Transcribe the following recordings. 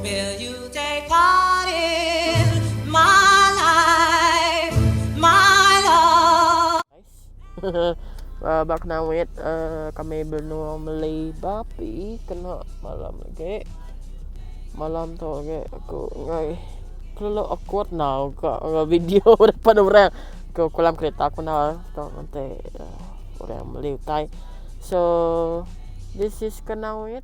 Will you take part in my life, my love? Nice. Bak nawit kami benua meli bapi kena malam agi. Malam tu agi aku enggai kelalu awkward enggau ka enggau video depan orang. Aku kelam kereta aku enggau tu menti orang meli utai. So this is ke nawit.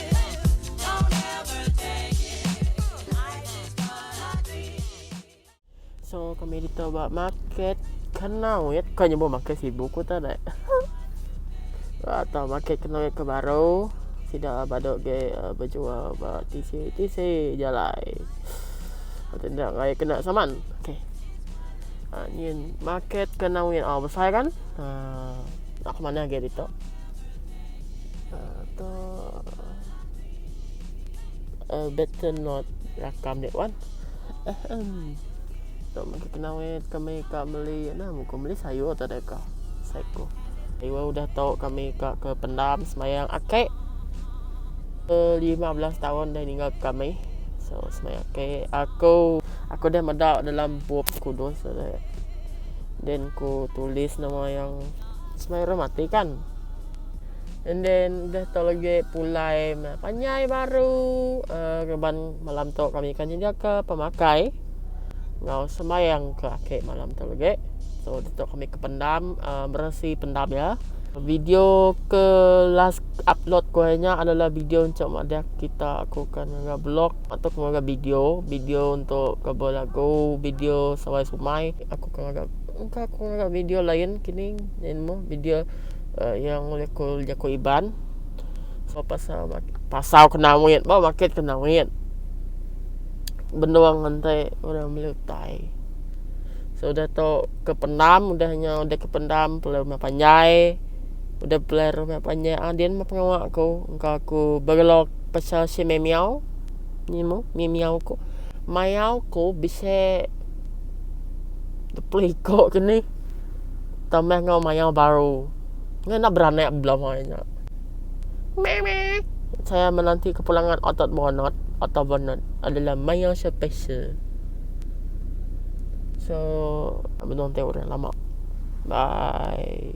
So kami kita buat market kenau ya kan nyebut market sibu ku tak ada. Ba ta market kenau ke baru sida badok ge uh, berjual ba tisi tisi jalai. Atau tidak ngai kena saman. Okey. Uh, ni market kenau ya oh, besar kan? Uh, nak ke mana ge ditok? Uh, tu uh, better not rakam dek wan. Ahem. Tok mesti kena weh kami ka meli nah muka meli sayur tak ada ka. Saiko. Iwa udah tau kami ka ke pendam semayang akek. Uh, 15 tahun dah ninggal kami. So semayang akek aku aku dah meda dalam bup kudus ada. Then ku tulis nama yang Semaira mati kan. And then udah tu lagi pulai panyai baru uh, keban malam tu kami kan nyenjaka pemakai ngau sembahyang ke akhir malam tu lagi. So udah tu kami ke pendam uh, meresi pendam ya. Video ke last upload ku hari nya adalah video encok madah kita aku kan ngaga blog atau ke ngaga video, video untuk cover lagu, video sawai sumai aku kan ngaga Ka ku ngaga video lain kini nyadi nemu video iya ulih ku jaku Iban pasal pasal ke nawit ba maket ke nawit benung nganti orang meli utai sudah tu ke pendam udah nya udah ke pendam pulai rumah panjai udah pulai rumah panjai a dian meh pengawa ku engka ku begelok pasal si mimiau ni meh mimiau ku mayau ku bisi. Depelika ke nih. Tambah enggau maya baru. Ngena beranak bela mai nya. Memek. Saya menanti kepulangan otot bonot. Otot bonot adalah maya special. So, menonton orang lama. Bye.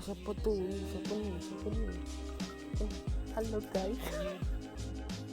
Siapa tu? Siapa ni? Siapa ni? Hello guys.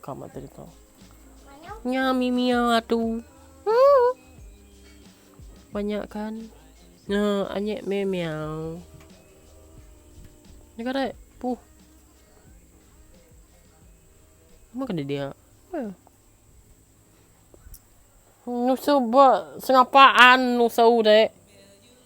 Ka mata kita. Nya mimia atu. Huh. Banyak kan. Nah, anyek mimiau. Nika dek. Puh. Maka dia dia. Huh. Nusu ba sengapaan nusu dek.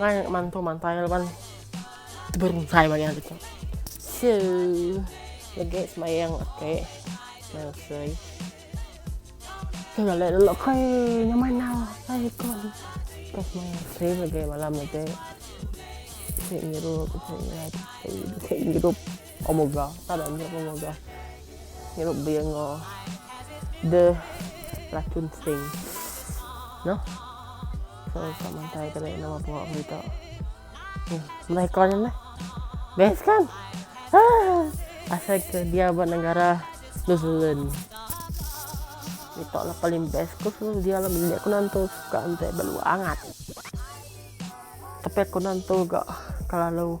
Ngai mantu mantai laban beruntai maya hari tu. So, legi semayang ake ngasai. Ke galek dulu kai nyamai nau kai ko. Ke semayang ase lagi malam lagi. Ke ngirup. Ke ngirup. Omoga tara nya omoga. Ngirup bia engo the Raccoon Sting. No. So sa mantai tadi nama bawa berita. Hmm. Nah iklan ni meh. Best kan? Ah. Asal ke dia ba negara New Zealand. Itu lah paling best ko dia lah bilik ko nantu suka ente beluangat. Tapi aku nantu ga kelalu